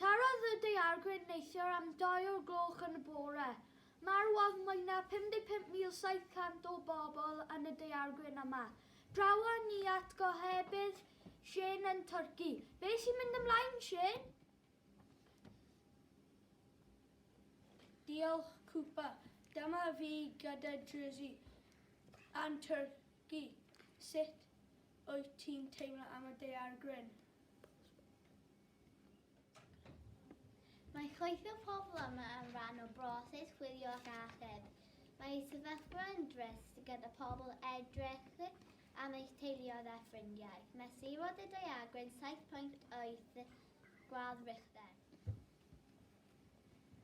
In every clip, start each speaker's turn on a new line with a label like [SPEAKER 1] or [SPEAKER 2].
[SPEAKER 1] Tarodd y daeargryn neithiwr am doi o'r gloch yn y bore. Marwodd mwy na 55,700 o bobl yn y daeargryn yma. Drawon ni at gohebydd Shane yn Turkey. Be sy'n mynd ymlaen, Shane? Diolch, Cooper. Dyma fi gyda Jersey and Turkey. Sut wyt ti'n teimlo am y daeargryn? Mae chwaith y pobl yma yn rhan o broses chwilio ac achub. Mae ei sefyllfa yn drist gyda pobl edrych am eich teuluoedd a ffrindiau. Mesurodd y daeargryn 7.8 gwadd Richter.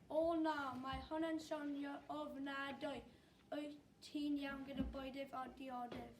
[SPEAKER 1] O na, mae hon yn sonio ofnadwy. Wyt ti'n iawn gyda bwydydd a diodydd?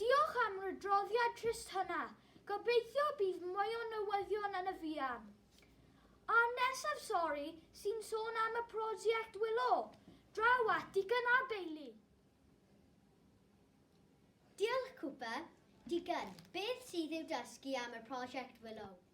[SPEAKER 1] Diolch am yr adroddiad trist hynna. Gobeithio bydd mwy o newyddion yn y fuan. A nesaf sori sy'n sôn am y prosiect Willow. Draw at Digon a Bailey. Diolch Cooper. Digon, beth sydd i'w dysgu am y prosiect Willow?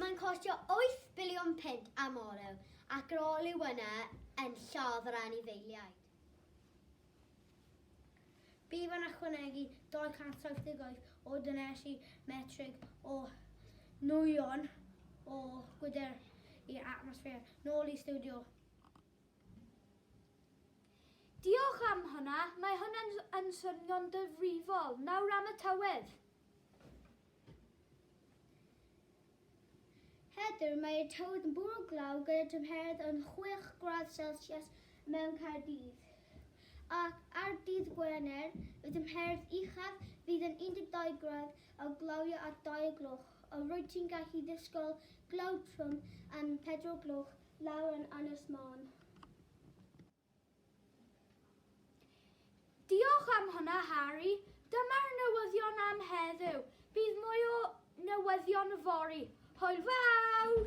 [SPEAKER 1] Mae'n costio 8 biliwn punt am olew ac yr olew yna yn lladd yr anifeiliaid. Bydd yn ychwanegu 278 o dynesu metrig o nwyon o gwydr i'r atmosffer, nôl i stiwdio. Diolch am hwnna, mae hwnna yn swnio'n difrifol. Nawr am y tywydd. Heddiw mae'r tywydd yn bwrw glaw gyda tymheredd yn 6 gradd Celsius mewn Caerdydd. Ac ar dydd Gwener, y tymheredd uchaf fydd yn 12 gradd a glawio at ddau o gloch, ond rwyt ti'n gallu disgwyl glaw trwm am pedwar o gloch lawr yn Ynys Môn. Diolch am hwnna, Harry. Dyma'r newyddion am heddiw. Bydd mwy o newyddion yfory. Hwyl fawr!